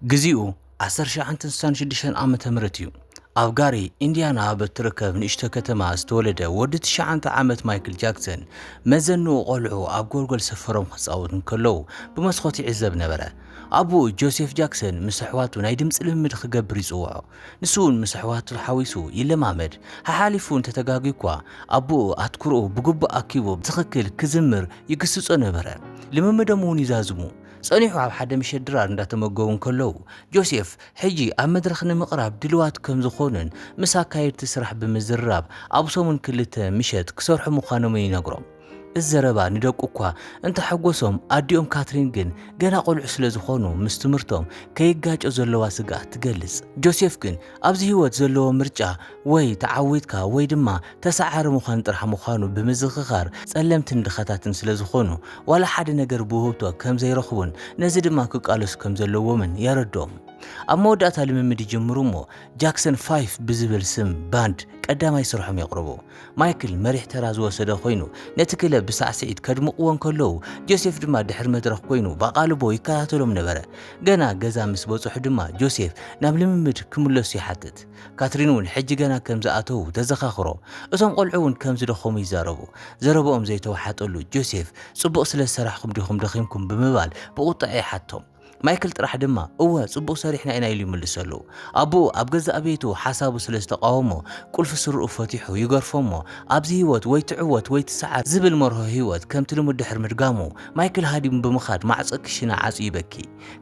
ግዚኡ ዓሰርተ ሸውዓንተ ስሳን ሽዱሽተን ዓመተ ምህረት እዩ። ኣብ ጋሪ፣ ኢንዲያና ኣብ እትርከብ ንእሽቶ ከተማ ዝተወለደ ወዲ ትሽዓንተ ዓመት ማይክል ጃክሰን፣ መዘንኡ ቈልዑ ኣብ ጎልጎል ሰፈሮም ክጻወቱ እንከለዉ ብመስኮት ይዕዘብ ነበረ። ኣቦኡ ጆሴፍ ጃክሰን ምስ ኣሕዋቱ ናይ ድምጺ ልምምድ ክገብር ይጽውዖ። ንሱ'ውን ምስ ኣሕዋቱ ሓዊሱ ይለማመድ። ሓሓሊፉ እንተ ተጋግዩ'ኳ፣ ኣቦኡ ኣትኩሮኡ ብግቡእ ኣኪቡ ብትኽክል ክዝምር ይግስጾ ነበረ። ልምምዶም'ውን ይዛዝሙ። ጸኒሑ ኣብ ሓደ ምሸት ድራር እንዳተመገቡ እንከለዉ፣ ጆሴፍ ሕጂ ኣብ መድረኽ ንምቕራብ ድልዋት ከም ዝኾኑን ምስ ኣካየድቲ ስራሕ ብምዝርራብ ኣብ ሰሙን ክልተ ምሸት ክሰርሑ ምዃኖምን ይነግሮም። እዚ ዘረባ ንደቁ እኳ እንተሐጎሶም ኣዲኦም ካትሪን ግን ገና ቆልዑ ስለ ዝኾኑ ምስ ትምህርቶም ከይጋጮ ዘለዋ ስግኣት ትገልጽ። ጆሴፍ ግን ኣብዚ ህይወት ዘለዎ ምርጫ ወይ ተዓዊትካ ወይ ድማ ተሳዓሪ ምዃን ጥራሕ ምዃኑ ብምዝኽኻር፣ ጸለምትን ድኻታትን ስለ ዝኾኑ፣ ዋላ ሓደ ነገር ብውህብቶ ከም ዘይረኽቡን ነዚ ድማ ክቃለሱ ከም ዘለዎምን የረድኦም። ኣብ መወዳእታ ልምምድ ይጅምሩ እሞ ጃክሰን ፋይፍ ብዝብል ስም ባንድ ቀዳማይ ስርሖም የቕርቡ። ማይክል መሪሕ ተራ ዝወሰደ ኮይኑ ነቲ ክለብ ብሳዕስዒት ከድምቕዎ እንከለዉ፣ ጆሴፍ ድማ ድሕሪ መድረኽ ኮይኑ ብኣቓልቦ ይከታተሎም ነበረ። ገና ገዛ ምስ በጽሑ ድማ ጆሴፍ ናብ ልምምድ ክምለሱ ይሓትት። ካትሪን እውን ሕጂ ገና ከም ዝኣተዉ ተዘኻኽሮ። እቶም ቈልዑ እውን ከም ዝደኸሙ ይዛረቡ። ዘረባኦም ዘይተዋሓጠሉ ጆሴፍ፣ ጽቡቕ ስለ ዝሰራሕኩም ዲኹም ደኺምኩም? ብምባል ብቝጥዐ ይሓቶም። ማይክል ጥራሕ ድማ እወ፣ ጽቡቕ ሰሪሕና ኢና ኢሉ ይምልሰሉ። ኣቦኡ ኣብ ገዛእ ቤቱ ሓሳቡ ስለ ዝተቓወሞ ቍልፊ ስረኡ ፈቲሑ ይገርፎ እሞ ኣብዚ ህይወት ወይ ትዕወት ወይ ትስዓር ዝብል መርሆ ህይወት ከምቲ ልሙድ ድሕሪ ምድጋሙ ማይክል ሃዲሙ ብምኻድ ማዕጾ ክሽነ ዓጽዩ ይበኪ።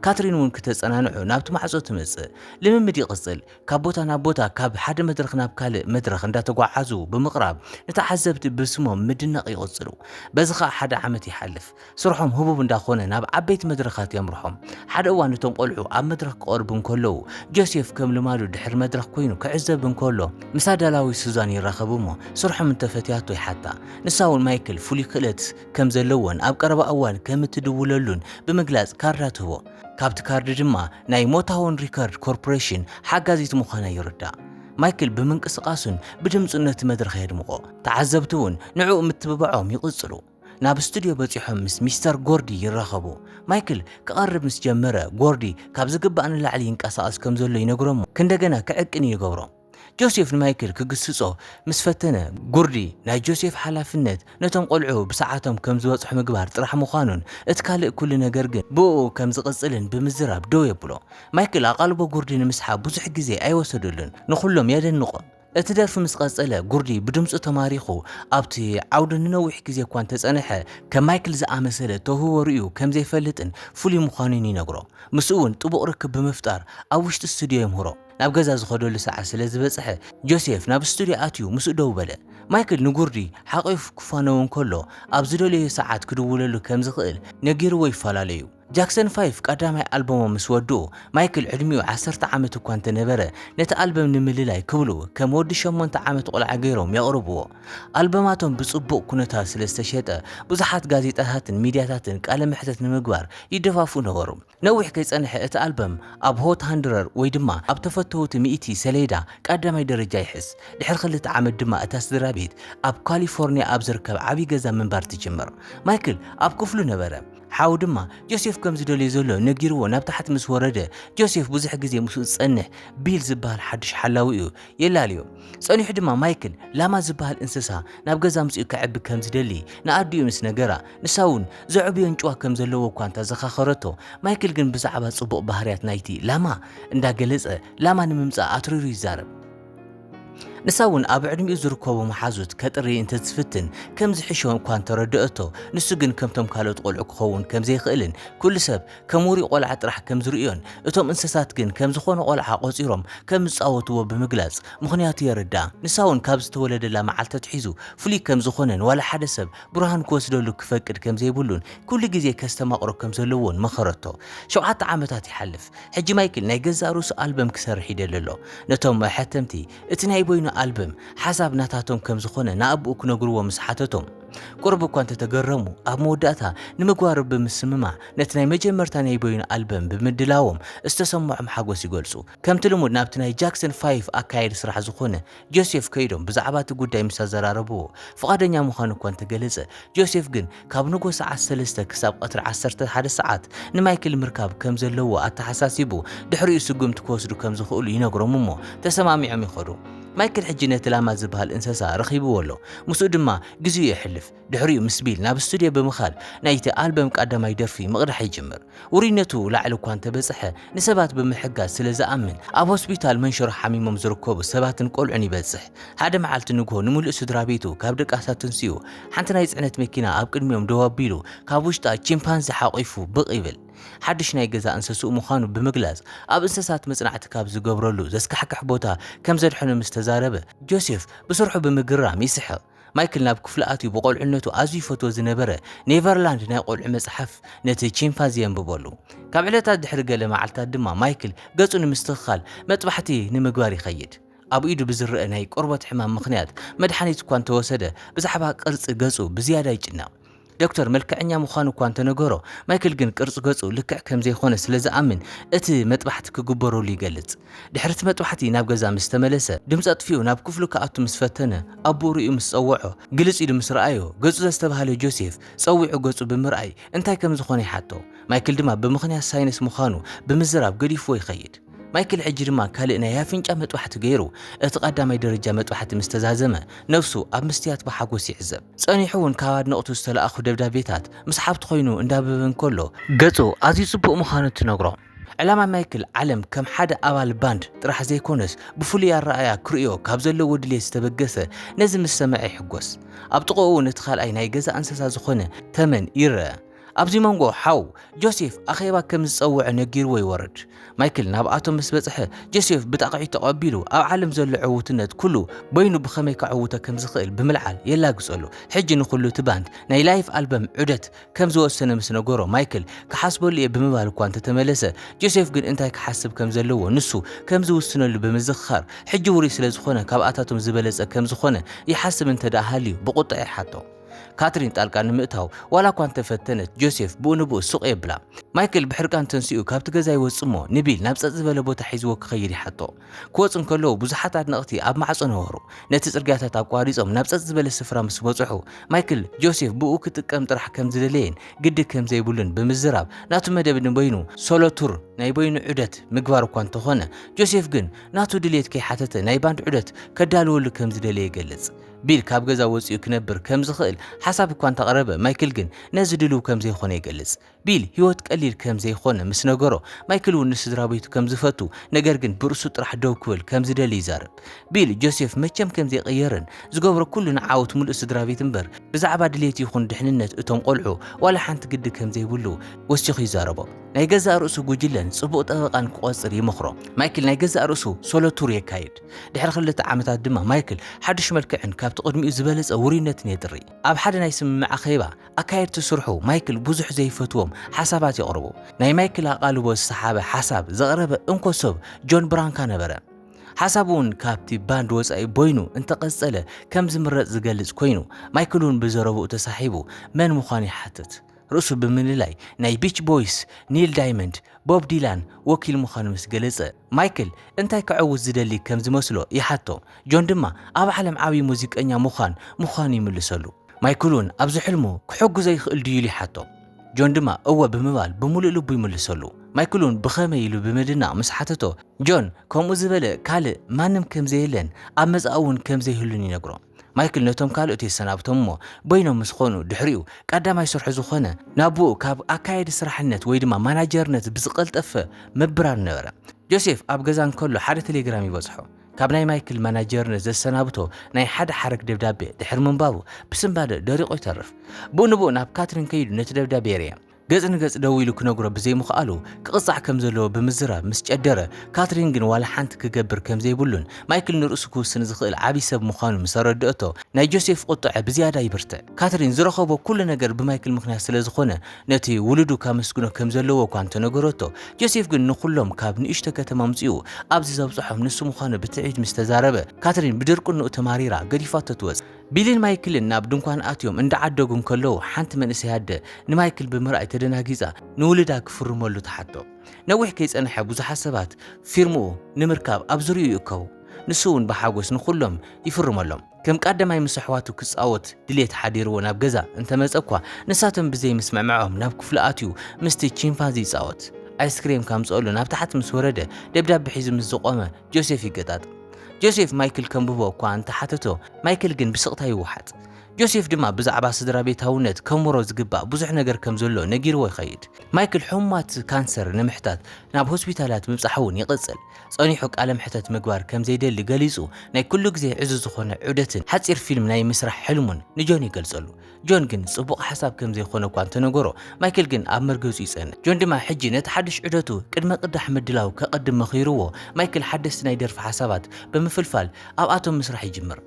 ካትሪን እውን ክተጸናንዖ ናብቲ ማዕጾ ትመጽእ። ልምምድ ይቕጽል። ካብ ቦታ ናብ ቦታ፣ ካብ ሓደ መድረኽ ናብ ካልእ መድረኽ እንዳተጓዓዙ ብምቕራብ ንተዓዘብቲ ብስሞም ምድናቕ ይቕጽሉ። በዚ ከኣ ሓደ ዓመት ይሓልፍ። ስርሖም ህቡብ እንዳኾነ ናብ ዓበይቲ መድረኻት የምርሖም። ሓደ እዋን እቶም ቆልዑ ኣብ መድረኽ ክቐርቡ እንከለዉ፣ ጆሴፍ ከም ልማዱ ድሕሪ መድረኽ ኮይኑ ክዕዘብ እንከሎ፣ ምስ ኣዳላዊት ሱዛን ይራኸብ እሞ ስርሖም እንተፈትያቶ ይሓታ። ንሳ እውን ማይክል ፍሉይ ክእለት ከም ዘለዎን ኣብ ቀረባ እዋን ከም እትድውለሉን ብምግላጽ ካርዳ ትህቦ። ካብቲ ካርድ ድማ ናይ ሞታውን ሪከርድ ኮርፖሬሽን ሓጋዚት ምዃና ይርዳእ። ማይክል ብምንቅስቓሱን ብድምጹን ነቲ መድረኽ የድምቖ፣ ተዓዘብቲ እውን ንዕኡ ምትብባዖም ይቕጽሉ። ናብ ስቱድዮ በጺሖም ምስ ሚስተር ጎርዲ ይራኸቡ። ማይክል ክቐርብ ምስ ጀመረ፣ ጎርዲ ካብ ዝግባእ ንላዕሊ ይንቀሳቐስ ከም ዘሎ ይነግሮ'ሞ ክንደገና ክዕቅን'ዩ ይገብሮ። ጆሴፍ ንማይክል ክግስጾ ምስ ፈተነ፣ ጉርዲ ናይ ጆሴፍ ሓላፍነት ነቶም ቈልዑ ብሰዓቶም ከም ዝበጽሑ ምግባር ጥራሕ ምዃኑን እቲ ካልእ ኵሉ ነገር ግን ብእኡ ከም ዝቕጽልን ብምዝራብ ደው የብሎ። ማይክል ኣቓልቦ ጉርዲ ንምስሓብ ብዙሕ ግዜ ኣይወሰደሉን፣ ንዅሎም የደንቖም። እቲ ደርፊ ምስ ቐጸለ፣ ጉርዲ ብድምጹ ተማሪኹ ኣብቲ ዓውዲ ንነዊሕ ግዜ እኳ እንተ ጸንሐ፣ ከም ማይክል ዝኣመሰለ ተውህቦ ርእዩ ከም ዘይፈልጥን ፍሉይ ምዃኑን ይነግሮ። ምስኡ'ውን ጥቡቕ ርክብ ብምፍጣር ኣብ ውሽጢ ስቱድዮ የምህሮ። ናብ ገዛ ዝኸደሉ ሰዓት ስለ ዝበጽሐ፣ ጆሴፍ ናብ ስቱድዮ ኣትዩ ምስኡ ደው በለ። ማይክል ንጉርዲ ሓቚፉ ክፋነው እንከሎ፣ ኣብ ዝደለዮ ሰዓት ክድውለሉ ከም ዝኽእል ነጊርዎ ይፈላለዩ። ጃክሰን ፋይፍ ቀዳማይ ኣልበሞም ምስ ወድኡ፣ ማይክል ዕድሚኡ ዓሰርተ ዓመት እኳ እንተ ነበረ፣ ነቲ ኣልበም ንምልላይ ክብሉ ከም ወዲ ሸሞንተ ዓመት ቈልዓ ገይሮም የቕርብዎ። ኣልበማቶም ብጽቡቕ ኵነታት ስለ ዝተሸጠ፣ ብዙሓት ጋዜጣታትን ሚድያታትን ቃለ መሕተት ንምግባር ይደፋፍኡ ነበሩ። ነዊሕ ከይጸንሐ እቲ ኣልበም ኣብ ሆት ሃንድረር ወይ ድማ ኣብ ተፈተውቲ ሚእቲ ሰሌዳ ቀዳማይ ደረጃ ይሕዝ። ድሕሪ ክልተ ዓመት ድማ እታ ስድራቤት ኣብ ካሊፎርንያ ኣብ ዝርከብ ዓቢ ገዛ ምንባር ትጅምር። ማይክል ኣብ ክፍሉ ነበረ። ሓው ድማ ጆሴፍ ከም ዝደልዮ ዘሎ ነጊርዎ ናብ ታሕቲ ምስ ወረደ፣ ጆሴፍ ብዙሕ ግዜ ምስኡ ዝጸንሕ ቢል ዝበሃል ሓድሽ ሓላዊኡ የላልዮ። ጸኒሑ ድማ ማይክል ላማ ዝበሃል እንስሳ ናብ ገዛ ኣምጺኡ ከዕቢ ከም ዝደሊ ንኣዲኡ ምስ ነገራ፣ ንሳ እውን ዘዕብዮ ኣንጭዋ ከም ዘለዎ እኳ እንተ ዘኻኸረቶ፣ ማይክል ግን ብዛዕባ ጽቡቕ ባህርያት ናይቲ ላማ እንዳ ገለጸ ላማ ንምምጻእ ኣትሪሩ ይዛረብ። ንሳ እውን ኣብ ዕድሚኡ ዝርከቡ መሓዙት ከጥሪ እንተ ትፍትን ከም ዝሕሾ እኳ እንተ ረደአቶ፣ ንሱ ግን ከምቶም ካልኦት ቆልዑ ክኸውን ከም ዘይክእልን ኩሉ ሰብ ከም ውሩይ ቆልዓ ጥራሕ ከም ዝርእዮን እቶም እንሰሳት ግን ከም ዝኾነ ቆልዓ ቆጺሮም ከም ዝጻወትዎ ብምግላጽ ምኽንያቱ የረድኣ። ንሳ እውን ካብ ዝተወለደላ መዓልቲ ኣትሒዙ ፍሉይ ከም ዝኾነን ዋላ ሓደ ሰብ ብርሃን ክወስደሉ ክፈቅድ ከም ዘይብሉን ኩሉ ግዜ ከስተማቕሮ ከም ዘለዎን መኸረቶ። ሸውዓተ ዓመታት ይሓልፍ። ሕጂ ማይክል ናይ ገዛእ ርእሱ ኣልበም ክሰርሕ ይደሊ ኣሎ። ነቶም መሐተምቲ እቲ ናይ በይኑ ኣልበም ሓሳብ ናታቶም ከም ዝኾነ ንኣቦኡ ክነግርዎ ምስ ሓተቶም ቁሩብ እኳ እንተ ተገረሙ ኣብ መወዳእታ ንምግባሩ ብምስምማዕ ነቲ ናይ መጀመርታ ናይ በይኑ ኣልበም ብምድላዎም ዝተሰምዖም ሓጎስ ይገልጹ። ከምቲ ልሙድ ናብቲ ናይ ጃክሰን ፋይፍ ኣካያዲ ስራሕ ዝኾነ ጆሴፍ ከይዶም ብዛዕባ እቲ ጉዳይ ምስ ኣዘራረብዎ ፍቓደኛ ምዃኑ እኳ እንተገለጸ፣ ጆሴፍ ግን ካብ ንግሆ ሰዓት ሰለስተ ክሳብ ቐትሪ ዓሰርተ ሓደ ሰዓት ንማይክል ምርካብ ከም ዘለዎ ኣተሓሳሲቡ ድሕሪኡ ስጉምቲ ክወስዱ ከም ዝኽእሉ ይነግሮም እሞ ተሰማሚዖም ይኸዱ። ማይክል ሕጂ ነቲ ላማ ዝበሃል እንሰሳ ረኺብዎ ኣሎ፣ ምስኡ ድማ ግዜኡ የሕልፍ። ድሕሪኡ ምስ ቢል ናብ ስቱድዮ ብምኻድ ናይቲ ኣልበም ቀዳማይ ደርፊ ምቕዳሕ ይጅምር። ውሩይነቱ ላዕሊ እኳ እንተበጽሐ፣ ንሰባት ብምሕጋዝ ስለ ዝኣምን፣ ኣብ ሆስፒታል መንሽሮ ሓሚሞም ዝርከቡ ሰባትን ቈልዑን ይበጽሕ። ሓደ መዓልቲ ንግሆ ንምሉእ ስድራቤቱ ካብ ድቃስ ኣተንሲኡ፣ ሓንቲ ናይ ጽዕነት መኪና ኣብ ቅድሚኦም ደው ኣቢሉ፣ ካብ ውሽጣ ቺምፓንዚ ሓቚፉ ብቕ ይብል። ሓድሽ ናይ ገዛ እንሰስኡ ምዃኑ ብምግላጽ፣ ኣብ እንሰሳት መጽናዕቲ ካብ ዝገብረሉ ዘስካሕክሕ ቦታ ከም ዘድሐኖ ምስ ተዛረበ፣ ጆሴፍ ብስርሑ ብምግራም ይስሕቕ። ማይክል ናብ ክፍሉ ኣትዩ ብቆልዕነቱ ኣዝዩ ይፈትዎ ዝነበረ ኔቨርላንድ ናይ ቆልዑ መጽሓፍ ነቲ ቺምፓዚ የንብበሉ። ካብ ዕለታት ድሕሪ ገለ መዓልታት ድማ ማይክል ገጹ ንምስትኽኻል መጥባሕቲ ንምግባር ይኸይድ። ኣብ ኢዱ ብዝረኣ ናይ ቆርበት ሕማም ምኽንያት መድሓኒት እኳ እንተወሰደ ብዛዕባ ቅርጺ ገጹ ብዝያዳ ይጭነቕ። ዶክተር መልክዐኛ ምዃኑ እኳ እንተነገሮ፣ ማይክል ግን ቅርጺ ገጹ ልክዕ ከም ዘይኰነ ስለ ዝኣምን እቲ መጥባሕቲ ክግበረሉ ይገልጽ። ድሕሪ እቲ መጥባሕቲ ናብ ገዛ ምስ ተመለሰ፣ ድምጺ ኣጥፊኡ ናብ ክፍሉ ክኣቱ ምስ ፈተነ፣ ኣቦኡ ርእዩ ምስ ጸውዖ፣ ግልጽ ኢሉ ምስ ረኣዮ፣ ገጹ ዘስተብሃለ ጆሴፍ፣ ጸዊዑ ገጹ ብምርኣይ እንታይ ከም ዝዀነ ይሓቶ። ማይክል ድማ ብምኽንያት ሳይነስ ምዃኑ ብምዝራብ ገዲፍዎ ይኸይድ። ማይክል ሕጂ ድማ ካልእ ናይ ኣፍንጫ መጥባሕቲ ገይሩ፣ እቲ ቀዳማይ ደረጃ መጥባሕቲ ምስ ተዛዘመ፣ ነብሱ ኣብ መስትያት ብሓጐስ ይዕዘብ። ጸኒሑ ውን ካብ ኣድነቕቱ ዝተላእኩ ደብዳቤታት ምስ ሓብቱ ኮይኑ እንዳብበ እንከሎ፣ ገጹ ኣዝዩ ጽቡቕ ምዃኑ ትነግሮ። ዕላማ ማይክል ዓለም ከም ሓደ ኣባል ባንድ ጥራሕ ዘይኮነስ ብፍሉይ ኣረኣእያ ክርእዮ ካብ ዘለዎ ድሌት ዝተበገሰ ነዚ ምስ ሰምዐ ይሕጎስ። ኣብ ጥቕኡ ነቲ ካልኣይ ናይ ገዛ እንሰሳ ዝኾነ ተመን ይረኣ። ኣብዚ መንጎ ሓው ጆሴፍ ኣኼባ ከም ዝጸውዐ ነጊርዎ ይወርድ። ማይክል ናብኣቶም ምስ በጽሐ፣ ጆሴፍ ብጣቕዒት ተቐቢሉ ኣብ ዓለም ዘሎ ዕውትነት ኩሉ በይኑ ብኸመይ ከዕውቶ ከም ዝኽእል ብምልዓል የላግጸሉ። ሕጂ ንኹሉ እቲ ባንድ ናይ ላይፍ ኣልበም ዑደት ከም ዝወሰነ ምስ ነገሮ፣ ማይክል ክሓስበሉ እየ ብምባል እኳ እንተ ተመለሰ፣ ጆሴፍ ግን እንታይ ክሓስብ ከም ዘለዎ ንሱ ከም ዝውስነሉ ብምዝኽኻር፣ ሕጂ ውሩይ ስለ ዝኾነ ካብኣታቶም ዝበለጸ ከም ዝኾነ ይሓስብ እንተ ደኣ ሃልዩ ብቑጥዐ ይሓቶ። ካትሪን ጣልቃ ንምእታው ዋላ እኳ እንተፈተነት ጆሴፍ ብኡ ንብኡ ሱቕ የብላ። ማይክል ብሕርቃን ተንሲኡ ካብቲ ገዛ ይወጽእ እሞ ንቢል ናብ ጸጥ ዝበለ ቦታ ሒዝዎ ክኸይድ ይሓቶ። ክወጹ እንከለዉ ብዙሓት ኣድነቕቲ ኣብ ማዕጾ ነበሩ። ነቲ ጽርግያታት ኣቋሪጾም ናብ ጸጥ ዝበለ ስፍራ ምስ በጽሑ ማይክል ጆሴፍ ብኡ ክጥቀም ጥራሕ ከም ዝደለየን ግዲ ከም ዘይብሉን ብምዝራብ ናቱ መደብ ንበይኑ ሶሎ ቱር ናይ በይኑ ዑደት ምግባር እኳ እንተኾነ ጆሴፍ ግን ናቱ ድልየት ከይሓተተ ናይ ባንድ ዑደት ከዳልወሉ ከም ዝደለየ ይገልጽ። ቢል ካብ ገዛ ወጺኡ ክነብር ከም ዝኽእል ሓሳብ እኳ እንተቕረበ፣ ማይክል ግን ነዚ ድሉው ከም ዘይዀነ ይገልጽ። ቢል ህይወት ቀሊል ከም ዘይኰነ ምስ ነገሮ፣ ማይክል እውን ንስድራቤቱ ከም ዝፈቱ፣ ነገር ግን ብርእሱ ጥራሕ ደው ክብል ከም ዝደሊ ይዛረብ። ቢል፣ ጆሴፍ መቸም ከም ዘይቅየርን ዝገብሮ ኵሉ ንዓወት ምሉእ ስድራቤት እምበር ብዛዕባ ድሌት ይዅን ድሕንነት እቶም ቈልዑ ዋላ ሓንቲ ግዲ ከም ዘይብሉ ወሲኹ ይዛረቦ። ናይ ገዛእ ርእሱ ጕጅለን ጽቡቕ ጠበቓን ክቖጽር ይመኽሮ። ማይክል ናይ ገዛእ ርእሱ ሶሎ ቱር የካይድ። ድሕሪ ክልተ ዓመታት ድማ ማይክል ሓድሽ መልክዕን ካብቲ ቅድሚኡ ዝበለጸ ውሩይነትን የጥሪ። ኣብ ሓደ ናይ ስምምዕ ኣኼባ፣ ኣካየድቲ ስርሑ ማይክል ብዙሕ ዘይፈትዎም ሓሳባት የቕርቡ። ናይ ማይክል ኣቓልቦ ዝሰሓበ ሓሳብ ዘቕረበ እንኮ ሰብ ጆን ብራንካ ነበረ። ሓሳቡ'ውን ካብቲ ባንድ ወጻኢ ቦይኑ እንተ ቀጸለ ከም ዝምረጽ ዝገልጽ ኮይኑ፣ ማይክል'ውን ብዘረብኡ ተሳሒቡ መን ምዃኑ ይሓትት። ርእሱ ብምልላይ ናይ ቢች ቦይስ፣ ኒል ዳይመንድ፣ ቦብ ዲላን ወኪል ምዃኑ ምስ ገለጸ፣ ማይክል እንታይ ከዐውት ዝደሊ ከም ዝመስሎ ይሓቶ፣ ጆን ድማ ኣብ ዓለም ዓብዪ ሙዚቀኛ ምዃን ምዃኑ ይምልሰሉ። ማይክል'ውን ኣብዚ ሕልሙ ክሕግዞ ይኽእል ድዩ ኢሉ ይሓቶ፣ ጆን ድማ እወ ብምባል ብምሉእ ልቡ ይምልሰሉ። ማይክል'ውን ብኸመይ ኢሉ ብምድናቕ ምስ ሓተቶ፣ ጆን ከምኡ ዝበለ ካልእ ማንም ከም ዘየለን ኣብ መጻኢ'ውን ከም ዘይህሉን ይነግሮ። ማይክል ነቶም ካልኦት የሰናብቶም እሞ በይኖም ምስ ኾኑ ድሕሪኡ ቀዳማይ ስርሑ ዝኾነ ናብኡ ካብ ኣካያዲ ስራሕነት ወይ ድማ ማናጀርነት ብዝቐልጠፈ ምብራር ነበረ። ጆሴፍ ኣብ ገዛ እንከሎ ሓደ ተሌግራም ይበጽሖ። ካብ ናይ ማይክል ማናጀርነት ዘሰናብቶ ናይ ሓደ ሓረግ ደብዳቤ ድሕሪ ምንባቡ ብስንባደ ደሪቑ ይተርፍ። ብኡ ንብኡ ናብ ካትሪን ከይዱ ነቲ ደብዳቤ የርእያ። ገጽ ንገጽ ደው ኢሉ ክነግሮ ብዘይምኽኣሉ ክቕጻዕ ከም ዘለዎ ብምዝራብ ምስ ጨደረ፣ ካትሪን ግን ዋላ ሓንቲ ክገብር ከም ዘይብሉን ማይክል ንርእሱ ክውስን ዝኽእል ዓቢ ሰብ ምዃኑ ምስ ኣረድኣቶ፣ ናይ ጆሴፍ ቁጥዐ ብዝያዳ ይብርትዕ። ካትሪን ዝረኸቦ ኩሉ ነገር ብማይክል ምኽንያት ስለ ዝኾነ ነቲ ውሉዱ ካመስግኖ ከም ዘለዎ እኳ እንተ ነገረቶ፣ ጆሴፍ ግን ንኹሎም ካብ ንእሽቶ ከተማ ኣምጺኡ ኣብዚ ዘብጽሖም ንሱ ምዃኑ ብትዕቢት ምስ ተዛረበ፣ ካትሪን ብድርቅንኡ ተማሪራ ገዲፋቶ ትወጽእ። ቢልን ማይክልን ናብ ድንኳን ኣትዮም እንዳዓደጉ እንከለዉ፣ ሓንቲ መንእሰይ ኣደ ንማይክል ብምርኣይ ተደናጊጻ ንውሉዳ ክፍርመሉ ትሓቶ። ነዊሕ ከይጸንሐ ብዙሓት ሰባት ፊርምኡ ንምርካብ ኣብ ዙርይኡ ይእከቡ። ንሱ'ውን ብሓጎስ ንኹሎም ይፍርመሎም። ከም ቃደማይ ምስ ኣሕዋቱ ክጻወት ድሌት ሓዲርዎ ናብ ገዛ እንተመጸ'ኳ፣ ንሳቶም ብዘይምስምዕምዖም ናብ ክፍሉ ኣትዩ ምስቲ ቺምፓንዚ ይጻወት። ኣይስክሬም ከምጽኦሉ ናብ ታሕቲ ምስ ወረደ ደብዳብ ሒዙ ምስ ዝቖመ፣ ጆሴፍ ይገጣጥም። ጆሴፍ ማይክል ከንብቦ እኳ እንተ ሓተቶ፣ ማይክል ግን ብስቕታ ይወሓጥ። ጆሴፍ ድማ ብዛዕባ ስድራቤታውነት ከንብሮ ዝግባእ ብዙሕ ነገር ከም ዘሎ ነጊርዎ ይኸይድ። ማይክል ሕሙማት ካንሰር ንምሕታት ናብ ሆስፒታላት ምብጻሕ እውን ይቕጽል። ጸኒሑ ቃለ መሕተት ምግባር ከም ዘይደሊ ገሊጹ፣ ናይ ኩሉ ግዜ ዕዙዝ ዝዀነ ዑደትን ሓጺር ፊልም ናይ ምስራሕ ሕልሙን ንጆን ይገልጸሉ። ጆን ግን ጽቡቕ ሓሳብ ከም ዘይኮነ እኳ እንተነገሮ፣ ማይክል ግን ኣብ መርገጹ ይጸንዕ። ጆን ድማ ሕጂ ነቲ ሓድሽ ዑደቱ ቅድመ ቅዳሕ ምድላው ከቐድም መኺርዎ፣ ማይክል ሓደስቲ ናይ ደርፊ ሓሳባት ብምፍልፋል ኣብኣቶም ምስራሕ ይጅምር።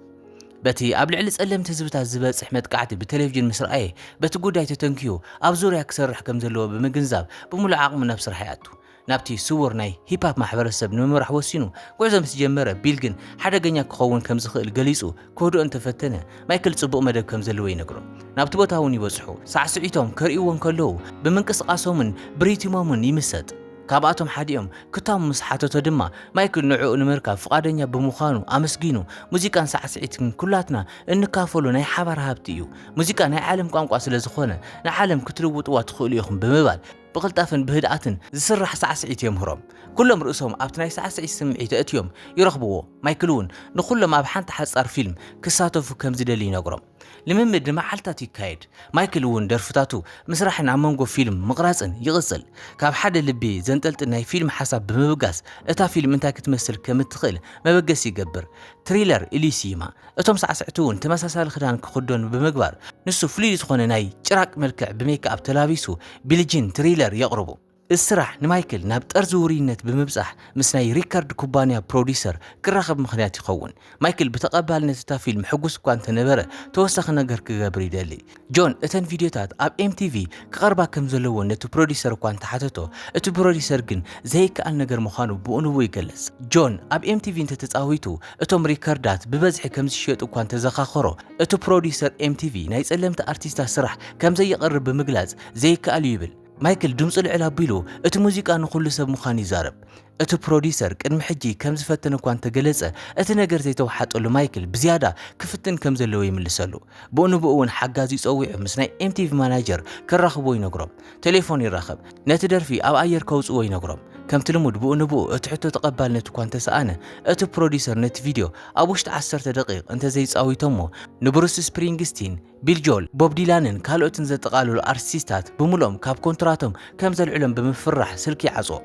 በቲ ኣብ ልዕሊ ጸለምቲ ህዝብታት ዝበጽሕ መጥቃዕቲ ብቴሌቪዥን ምስ ረኣየ፣ በቲ ጉዳይ ተተንክዩ ኣብ ዙርያ ክሰርሕ ከም ዘለዎ ብምግንዛብ ብምሉእ ዓቕሙ ናብ ስራሕ ይኣቱ። ናብቲ ስዉር ናይ ሂፕ-ሀፕ ማሕበረሰብ ንምምራሕ ወሲኑ ጉዕዞ ምስ ጀመረ፣ ቢል ግን ሓደገኛ ክኸውን ከም ዝኽእል ገሊጹ ክህድኦ እንተ ፈተነ፣ ማይክል ጽቡቕ መደብ ከም ዘለዎ ይነግሮ። ናብቲ ቦታ እውን ይበጽሑ። ሳዕስዒቶም ከርእይዎ እንከለዉ ብምንቅስቓሶምን ብሪትሞምን ይምሰጥ። ካብኣቶም ሓዲኦም ክታሙ ምስ ሓተቶ ድማ፣ ማይክል ንዕኡ ንምርካብ ፍቓደኛ ብምዃኑ ኣመስጊኑ፣ ሙዚቃን ሳዕስዒትን ኩላትና እንካፈሎ ናይ ሓባር ሃብቲ እዩ። ሙዚቃ ናይ ዓለም ቋንቋ ስለ ዝኾነ ንዓለም ክትልውጥዋ ትኽእሉ ኢኹም ብምባል፣ ብቕልጣፍን ብህድኣትን ዝስራሕ ሳዕስዒት የምህሮም። ኩሎም ርእሶም ኣብቲ ናይ ሳዕስዒት ስምዒት ኣእትዮም ይረኽብዎ። ማይክል'ውን ንኹሎም ኣብ ሓንቲ ሓጻር ፊልም ክሳተፉ ከም ዝደሊ ይነግሮም። ልምምድ ንመዓልታት ይካየድ። ማይክል እውን ደርፍታቱ ምስራሕን ኣብ መንጎ ፊልም ምቕራጽን ይቕጽል። ካብ ሓደ ልቢ ዘንጠልጥል ናይ ፊልም ሓሳብ ብምብጋስ እታ ፊልም እንታይ ክትመስል ከም እትኽእል መበገሲ ይገብር። ትሪለር ኢሊሲማ እቶም ሳዕስዕቲ እውን ተመሳሳሊ ክዳን ክኽደኑ ብምግባር ንሱ ፍሉይ ዝኾነ ናይ ጭራቅ መልክዕ ብሜክኣፕ ተላቢሱ ቢሊጂን ትሪለር የቕርቡ። እዚ ስራሕ ንማይክል ናብ ጠርዚ ውሩይነት ብምብጻሕ ምስ ናይ ሪከርድ ኩባንያ ፕሮዲዩሰር ክራኸብ ምኽንያት ይኸውን። ማይክል ብተቐባልነት እታ ፊልም ሕጉስ እኳ እንተነበረ ተወሳኺ ነገር ክገብር ይደሊ። ጆን እተን ቪድዮታት ኣብ ኤምቲቪ ክቐርባ ከም ዘለወን ነቲ ፕሮዲዩሰር እኳ እንተሓተቶ፣ እቲ ፕሮዲዩሰር ግን ዘይከኣል ነገር ምዃኑ ብኡ ንብኡ ይገልጽ። ጆን ኣብ ኤምቲቪ እንተተጻዊቱ እቶም ሪከርዳት ብበዝሒ ከም ዝሽየጡ እኳ እንተዘኻኸሮ፣ እቲ ፕሮዲዩሰር ኤምቲቪ ናይ ጸለምቲ ኣርቲስታት ስራሕ ከም ዘየቕርብ ብምግላጽ ዘይከኣል እዩ ይብል። ማይክል ድምጹ ልዕል ኣቢሉ እቲ ሙዚቃ ንዅሉ ሰብ ምዃኑ ይዛረብ። እቲ ፕሮዲዩሰር ቅድሚ ሕጂ ከም ዝፈተነ እኳ እንተገለጸ፣ እቲ ነገር ዘይተወሓጠሉ ማይክል ብዝያዳ ክፍትን ከም ዘለዎ ይምልሰሉ። ብኡንብኡ እውን ሓጋዚኡ ጸዊዑ ምስ ናይ ኤምቲቪ ማናጀር ከራኽብዎ ይነግሮም። ቴሌፎን ይራኸብ። ነቲ ደርፊ ኣብ ኣየር ከውጽእዎ ይነግሮም። ከምቲ ልሙድ ብኡንብኡ እቲ ሕቶ ተቐባልነት እኳ እንተሰኣነ፣ እቲ ፕሮዲዩሰር ነቲ ቪድዮ ኣብ ውሽጢ ዓሰርተ ደቒቕ እንተዘይጻዊቶሞ ንብሩስ ስፕሪንግስቲን፣ ቢል ጆል፣ ቦብ ዲላንን ካልኦትን ዘጠቓለሉ ኣርቲስታት ብምሉኦም ካብ ኮንትራቶም ከም ዘልዕሎም ብምፍርራሕ ስልኪ ይዓጽዎ።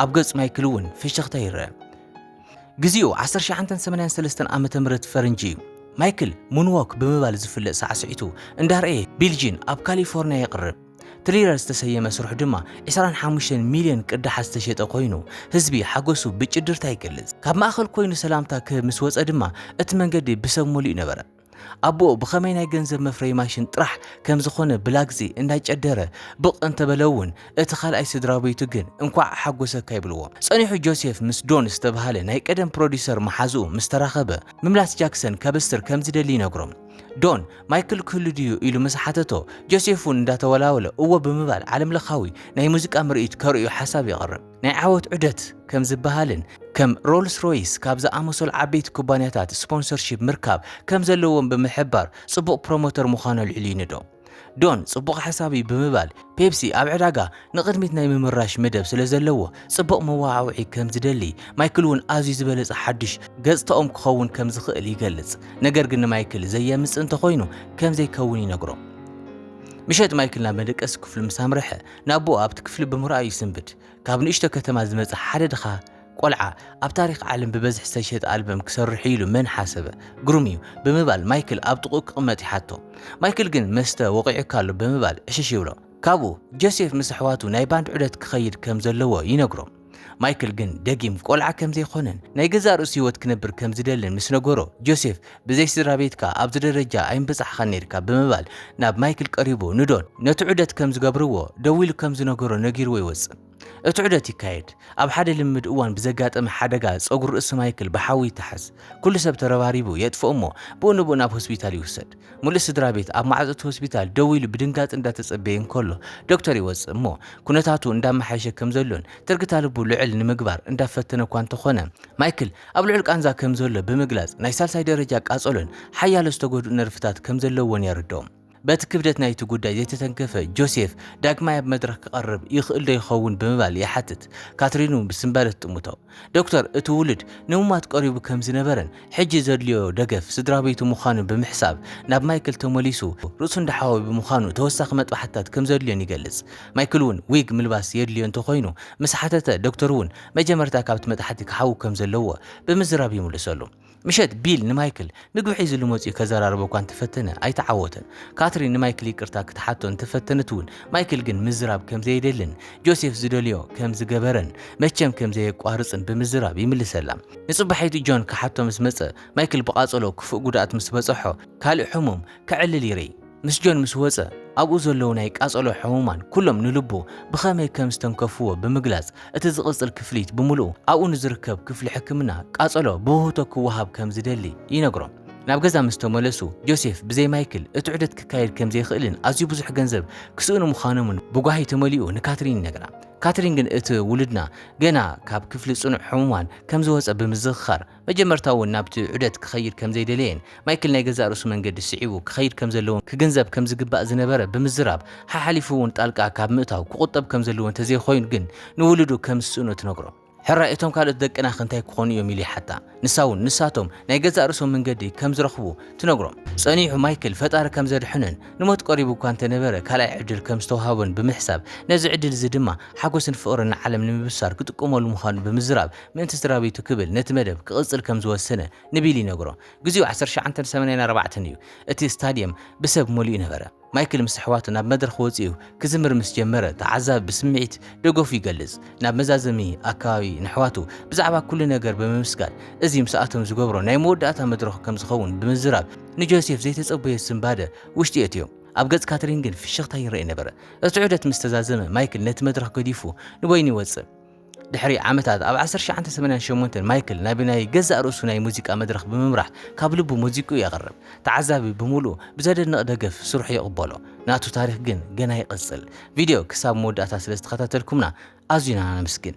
ኣብ ገጽ ማይክል'ውን ፍሽኽታ ይርኣ። ግዜኡ ዓሰርተ ሸሓንተን ሰማንያን ሰለስተን ዓመተ ምህረት ፈረንጂ እዩ። ማይክል ሙንዎክ ብምባል ዝፍለጥ ሳዕስዒቱ እንዳርኣየ ቢል ጂን ኣብ ካሊፎርንያ የቕርብ። ትሪለር ዝተሰየመ ስርሑ ድማ ዕስራን ሓሙሽተን ሚልዮን ቅዳሓት ዝተሸጠ ኮይኑ፣ ህዝቢ ሓጎሱ ብጭድርታ ይገልጽ። ካብ ማእከል ኮይኑ ሰላምታ ክህብ ምስ ወጸ ድማ እቲ መንገዲ ብሰብ መሊኡ ነበረ። ኣቦኡ ብኸመይ ናይ ገንዘብ መፍረዪ ማሽን ጥራሕ ከም ዝኾነ ብላግጺ እንዳጨደረ ብቕ እንተበለ'ውን እቲ ካልኣይ ስድራቤቱ ግን እንኳዕ ኣሓጎሰካ ይብልዎ። ጸኒሑ ጆሴፍ ምስ ዶን ዝተብሃለ ናይ ቀደም ፕሮዲዩሰር መሓዝኡ ምስ ተራኸበ ምምላስ ጃክሰን ከበስር ከም ዝደሊ ይነግሮ። ዶን ማይክል ክህሉ ድዩ ኢሉ ምስ ሓተቶ ጆሴፍ'ውን እንዳተወላወለ እወ ብምባል ዓለምለኻዊ ናይ ሙዚቃ ምርኢት ከርእዮ ሓሳብ የቕርብ። ናይ ዓወት ዑደት ከም ዝበሃልን ከም ሮልስ ሮይስ ካብ ዝኣመሰሉ ዓበይቲ ኩባንያታት ስፖንሰርሺፕ ምርካብ ከም ዘለዎም ብምሕባር ጽቡቕ ፕሮሞተር ምዃኑ ኣልዒሉ ይንዶ። ዶን ጽቡቕ ሓሳብ እዩ ብምባል ፔፕሲ ኣብ ዕዳጋ ንቕድሚት ናይ ምምራሽ መደብ ስለ ዘለዎ ጽቡቕ መወዓውዒ ከም ዝደሊ ማይክል እውን ኣዝዩ ዝበለጸ ሓድሽ ገጽታኦም ክኸውን ከም ዝኽእል ይገልጽ ነገር ግን ንማይክል ዘየምጽእ እንተኾይኑ ከም ዘይከውን ይነግሮ ምሸት ማይክል ናብ መደቀሲ ክፍሉ ምስ ኣምርሐ ንኣቦኡ ኣብቲ ክፍሊ ብምርኣዩ ይስንብድ። ካብ ንእሽቶ ከተማ ዝመጸ ሓደ ድኻ ቆልዓ ኣብ ታሪኽ ዓለም ብበዝሒ ዝተሸጠ ኣልበም ክሰርሕ'ዩ ኢሉ መን ሓሰበ? ግሩም'ዩ! ብምባል ማይክል ኣብ ጥቕኡ ክቕመጥ ይሓቶ። ማይክል ግን መስተ ወቒዑካ ኣሎ ብምባል ዕሽሽ ይብሎ። ካብኡ ጆሴፍ ምስ ኣሕዋቱ ናይ ባንድ ዑደት ክኸይድ ከም ዘለዎ ይነግሮ። ማይክል ግን ደጊም ቆልዓ ከም ዘይኮነን ናይ ገዛእ ርእሱ ህይወት ክነብር ከም ዝደልን ምስ ነገሮ፣ ጆሴፍ ብዘይ ስድራ ቤትካ ኣብዚ ደረጃ ኣይምበጻሕኻን ነይርካ ብምባል ናብ ማይክል ቀሪቡ ንዶን ነቲ ዑደት ከም ዝገብርዎ ደው ኢሉ ከም ዝነገሮ ነጊርዎ ይወጽእ። እቲ ዑደት ይካየድ። ኣብ ሓደ ልምምድ እዋን ብዘጋጠመ ሓደጋ ጸጉሪ ርእሲ ማይክል ብሓዊ ይተሓዝ። ኩሉ ሰብ ተረባሪቡ የጥፍኦ'ሞ ብኡ ንብኡ ናብ ሆስፒታል ይውሰድ። ምሉእ ስድራቤት ኣብ ማዕጾ እቲ ሆስፒታል ደው ኢሉ ብድንጋጸ እንዳተጸበየ እንከሎ ዶክተር ይወጽእ እሞ ኩነታቱ እንዳመሓየሸ ከም ዘሎን ትርግታ ልቡ ልዕል ንምግባር እንዳፈተነ እኳ እንተኾነ ማይክል ኣብ ልዑል ቃንዛ ከም ዘሎ ብምግላጽ ናይ ሳልሳይ ደረጃ ቃጸሎን ሓያሎ ዝተጎድኡ ነርቭታት ከም ዘለዎን የረድኦም። በቲ ክብደት ናይቲ ጉዳይ ዘይተተንከፈ ጆሴፍ ዳግማይ ኣብ መድረኽ ክቐርብ ይኽእልዶ ይኸውን ብምባል ይሓትት። ካትሪን እውን ብስንባደ ትጥምቶ። ዶክተር፣ እቲ ውሉድ ንምሟት ቀሪቡ ከም ዝነበረን ሕጂ ዘድልዮ ደገፍ ስድራቤቱ ምዃኑ ብምሕሳብ ናብ ማይክል ተመሊሱ ርእሱ እንዳሓወየ ብምዃኑ ተወሳኺ መጥባሕትታት ከም ዘድልዮን ይገልጽ። ማይክል'ውን ዊግ ምልባስ የድልዮ እንተኾይኑ ምስ ሓተተ ዶክተር'ውን መጀመርታ ካብቲ መጥሓቲ ክሓዊ ከም ዘለዎ ብምዝራብ ይምልሰሉ። ምሸት ቢል ንማይክል ምግቢ ሒዝሉ መጺኡ ከዘራርቦ እኳ እንተፈተነ ኣይተዓወተን። ካትሪን ንማይክል ይቅርታ ክትሓቶ እንተፈተነት እውን ማይክል ግን ምዝራብ ከም ዘየደልን ጆሴፍ ዝደልዮ ከም ዝገበረን መቸም ከም ዘየቋርጽን ብምዝራብ ይምልሰላ። ንጽባሒቱ ጆን ክሓቶ ምስ መጸ ማይክል ብቓጸሎ ክፉእ ጉድኣት ምስ በጸሖ ካልእ ሕሙም ከዕልል ይርኢ። ምስ ጆን ምስ ወጸ፣ ኣብኡ ዘለዉ ናይ ቃጸሎ ሕሙማን ኩሎም ንልቡ ብኸመይ ከም ዝተንከፍዎ ብምግላጽ፣ እቲ ዝቕጽል ክፍሊት ብምሉኡ ኣብኡ ንዝርከብ ክፍሊ ሕክምና ቃጸሎ ብውህብቶ ክወሃብ ከም ዝደሊ ይነግሮም። ናብ ገዛ ምስ ተመለሱ፣ ጆሴፍ ብዘይ ማይክል እቲ ዑደት ክካየድ ከም ዘይክእልን ኣዝዩ ብዙሕ ገንዘብ ክስእኑ ምዃኖምን ብጓሂ ተመሊኡ ንካትሪን ይነግራ። ካትሪን ግን እቲ ውሉድና ገና ካብ ክፍሊ ጽኑዕ ሕሙማን ከም ዝወጸ ብምዝኽኻር፣ መጀመርታ እውን ናብቲ ዑደት ክኸይድ ከም ዘይደለየን ማይክል ናይ ገዛእ ርእሱ መንገዲ ስዒቡ ክኸይድ ከም ዘለዎን ክግንዘብ ከም ዝግባእ ዝነበረ ብምዝራብ ሓሓሊፉ እውን ጣልቃ ካብ ምእታው ክቑጠብ ከም ዘለዎ እንተዘይኮይኑ ግን ንውሉዱ ከም ዝስእኖ ትነግሮ። ሕራይ እቶም ካልኦት ደቅናኸ እንታይ ክኾኑ እዮም ኢሉ ይሓታ። ንሳ እውን ንሳቶም ናይ ገዛእ ርእሶም መንገዲ ከም ዝረኽቡ ትነግሮም። ጸኒሑ ማይክል ፈጣሪ ከም ዘድሕኖን ንሞት ቀሪቡ እኳ እንተነበረ ካልኣይ ዕድል ከም ዝተውሃቦን ብምሕሳብ ነዚ ዕድል እዚ ድማ ሓጎስን ፍቕርን ንዓለም ንምብሳር ክጥቀመሉ ምዃኑ ብምዝራብ ምእንቲ ስድራቤቱ ክብል ነቲ መደብ ክቕጽል ከም ዝወሰነ ንቢል ይነግሮ። ግዜኡ ዓሰርተ ትሽዓን ሰማንያን ኣርባዕተን እዩ። እቲ ስታድየም ብሰብ መሊኡ ነበረ። ማይክል ምስ ኣሕዋቱ ናብ መድረኽ ወጺኡ ክዝምር ምስ ጀመረ፣ ተዓዛቢ ብስምዒት ደገፉ ይገልጽ። ናብ መዛዘሚ ኣከባቢ ነሕዋቱ ብዛዕባ ኩሉ ነገር ብምምስጋን፣ እዚ ምስኣቶም ዝገብሮ ናይ መወዳእታ መድረኹ ከም ዝኸውን ብምዝራብ፣ ንጆሴፍ ዘይተጸበዮ ስንባደ ውሽጢ የእትዮ። ኣብ ገጽ ካትሪን ግን ፍሽኽታ ይረኤ ነበረ። እቲ ዑደት ምስ ተዛዘመ፣ ማይክል ነቲ መድረኽ ገዲፉ ንበይኑ ይወጽእ። ድሕሪ ዓመታት ኣብ ዓሰርተ ትሽዓተ ሰማንያን ሸሞንተን ማይክል ናብ ናይ ገዛእ ርእሱ ናይ ሙዚቃ መድረኽ ብምምራሕ ካብ ልቡ ሙዚቅኡ የቕርብ። ተዓዛቢ ብምሉኡ ብዘደንቕ ደገፍ ስርሑ ይቕበሎ። ናቱ ታሪኽ ግን ገና ይቕጽል። ቪድዮ ክሳብ መወዳእታ ስለዝተኸታተልኩምና ኣዝዩና ነመስግን።